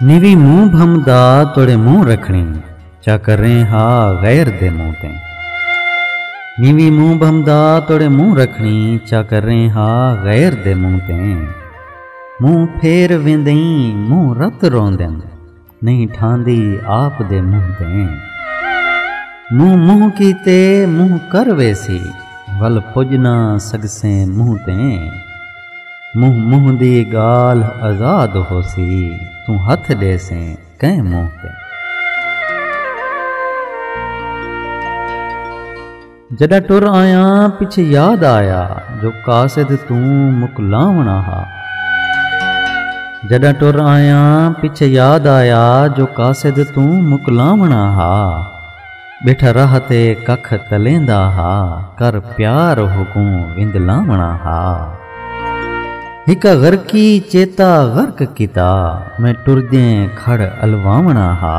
Navy منہ بھم دا توڑے منہ رکھنی چا کر رہے ہا غیر دے منہ تے نیوی منہ بھم دا توڑے منہ رکھنی چا کر رہے ہا غیر دے منہ تے منہ پھیر ویندیں منہ رت روندیں نہیں ٹھاندی آپ دے منہ دیں منہ منہ کیتے منہ کر ویسی ول پجنا سگسیں منہ تیں منہ منہ دی گال آزاد ہو سی توں ہتھ ڈے سیں کئیں منہ تیں جݙاں ٹر آیاں پچھے یاد آیا جو قاصد توں مکلاوݨا ہا جݙاں ٹر آیاں پچھے یاد آیا جو قاصد توں مکلاوݨا ہا ٻیٹھا راہ تے ککھ تلیندا ہا کر پیار ہوکوں وندلاوݨا ہا ہک غرقی چیتا غرق کیتا میں ٹردیں کھڑ الواوݨا ہا۔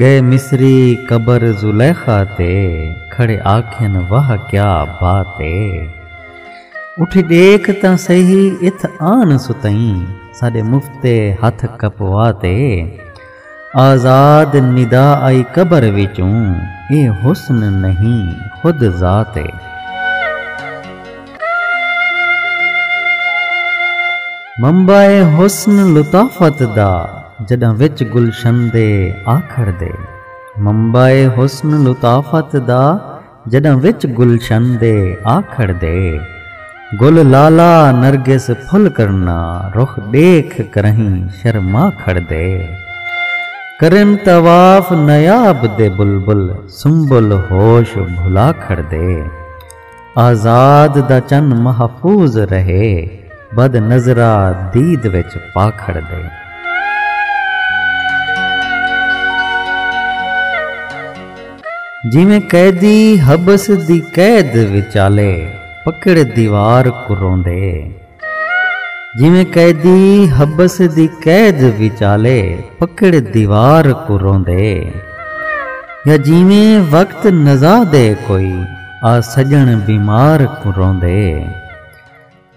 ڳئے مصری قبر زلیخا تے کھڑے آکھن واہ کیا بات اے اٹھی ݙیکھ تاں سہی اتھ آن ستئیں ساݙے مفتے ہتھ کپوا تے آزاد ندا آئی قبر وچوں اے حسن نہیں خود ذات اے۔ منبع حسن لطافت دا جݙاں وچ گلشن دے آکھر دے منبع حسن لطافت دا جݙاں وچ گلشن دے آکھر دے گل لالا نرگس پھل کرنا رخ ݙیکھ کرہیں شرما کھڑ دے کرن طواف نیاب دے بلبل سنبل ہوش بھلا کھڑ دے۔ آزاد دا چن محفوظ رہے بد نظرا دید وچ پا کھڑ دے۔ جیویں قیدی حبس دی قید وچالے پکڑ دیوار کروندے۔ جیویں قیدی حبس دی قید وچالے پکڑ دیوار کوں روندے۔ یا جیویں وقت نزا دے کوئی آ سڄݨ بیمار کوں روندے۔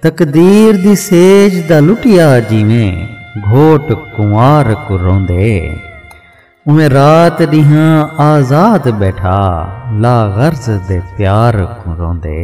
تقدیر دی سیج دا لٹیا جیویں گھوٹ کنوار کوں روندے۔ اوویں رات ݙینہاں آزاد ٻیٹھا لا غرض دے پیار کوں روندے۔